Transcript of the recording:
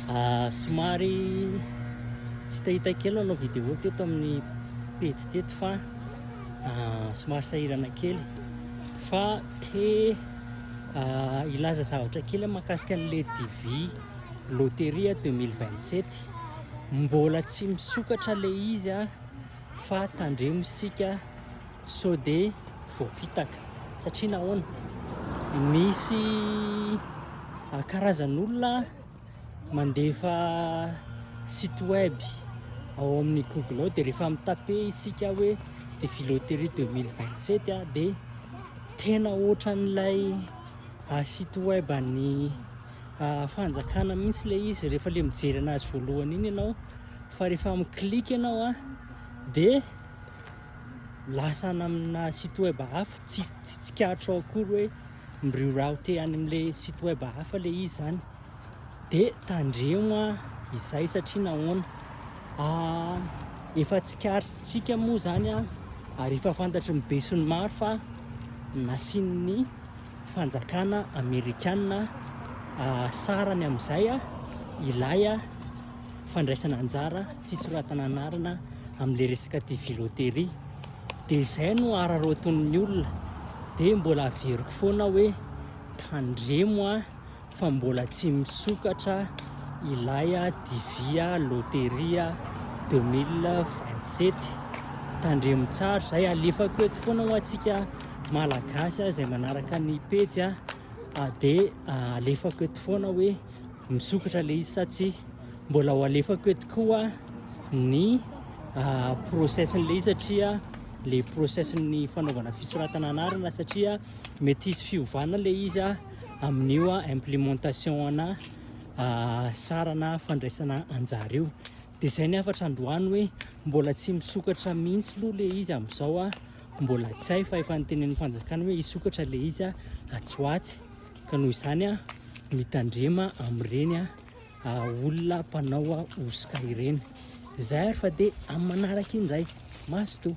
ah, somary tsy tahita kely nanao vidéo teto amin'ny pejy teto fa ah, somary sahirana kely fa te ah, ilaza zavatra kely makasika an'le DV loteria 2027 mbola tsy misokatra le izy a fa tandremo isika Sao dia voafitaka? Satria nahoana? Misy karazan'olona mandefa site web ao amin'ny Google ao dia rehefa mitape isika hoe dia filoterie 2027 ah, dia tena ohatran'ilay ah, site web an'ny ah, fanjakana mihitsy ilay izy rehefa le mijery anazy voalohany iny ianao fa rehefa miklik ianao a ah, dia lasa any amina site web hafa tsy tsy tsikaritra ao akory hoe mi-reroute any amin'le site web hafa le izy zany de tandremo a izay satria nahoana ah, efa tsikarintsika moa zany a ary efa fantatry ny be sy ny maro fa nasian'ny fanjakana amerikana ah, sarany amin'izay a ilay a fandraisana anjara, fisoratana anarana amin'ilay resaka TV loterie. Dia izay no araraotin'ny olona. Dia mbola averiko foana hoe tandremo a fa mbola tsy misokatra ilay TV loterie 2027. Tandremo tsara izay alefako eto foana ho antsika malagasy izay manaraka ny pejy a dia alefako eto foana hoe Misokatra le izy sa tsia? Mbola ho alefako eto koa ny ah, process-n'ilay izy satria le process-ny fanaovana fisoratana anarana satria mety hisy fiovana le izy ah, amin'io ah, implémentation-na ah, sarana fandraisana anjara io. Dia izay ny hafatra androany hoe mbola tsy misokatra mihitsy aloha le izy amin'izao ah, mbola tsy hay fa efa notenenin'ny fanjakana hoe hisokatra le izy ah, atsy ho atsy. Ka noho izany, mitandrema amin'ireny olona mpanao hosoka ireny. Izay ary fa dia amin'ny manaraka indray. Mazotoa.